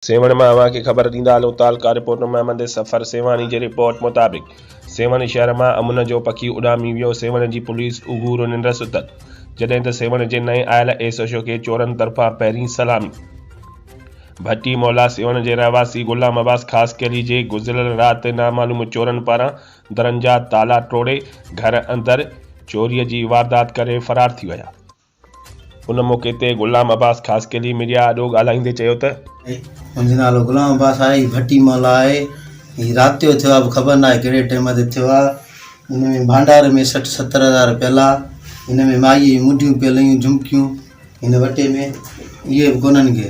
سيوهڻ مان اوهان کي خبر ڏيندا هلون ته الڪا رپورٽر محمد سفر سيوهاڻي جي رپورٽ مطابق سيوهڻ شهر مان امن جو پکي اڏامي ويو سيوهڻ جي پوليس اگهور ننڊ ستل جڏهن ته سيوهڻ جي نئين آيل ايس ايڇ او کي چورن طرفان پهرين سلامي ڀٽي مولا سيوهڻ جي رهواسي غلام عباس خاصخيلي جي گذريل رات نامعلوم چورن پاران درن جا تالا ٽوڙي گهر اندر چوري جي واردات ڪري فرار ٿي ويا. ان موقعي تي غلام عباس خاصخيلي ميڊيا آڏو ڳالهائيندي چيو ته. منهنجو نالو غلام عباس آهي، هي ڀٽي محلو آهي، هي رات جو ٿيو آهي به خبر ناهي ڪهڙي ٽيم تي ٿيو آهي، ان ۾ ڀانڊار ۾ سٺ ستر هزار پيل آهي، هن ۾ مائيء جون مڍيون پيل هيون جهمڪيون هن وٽي ۾ اهي به ڪونهن ڪي.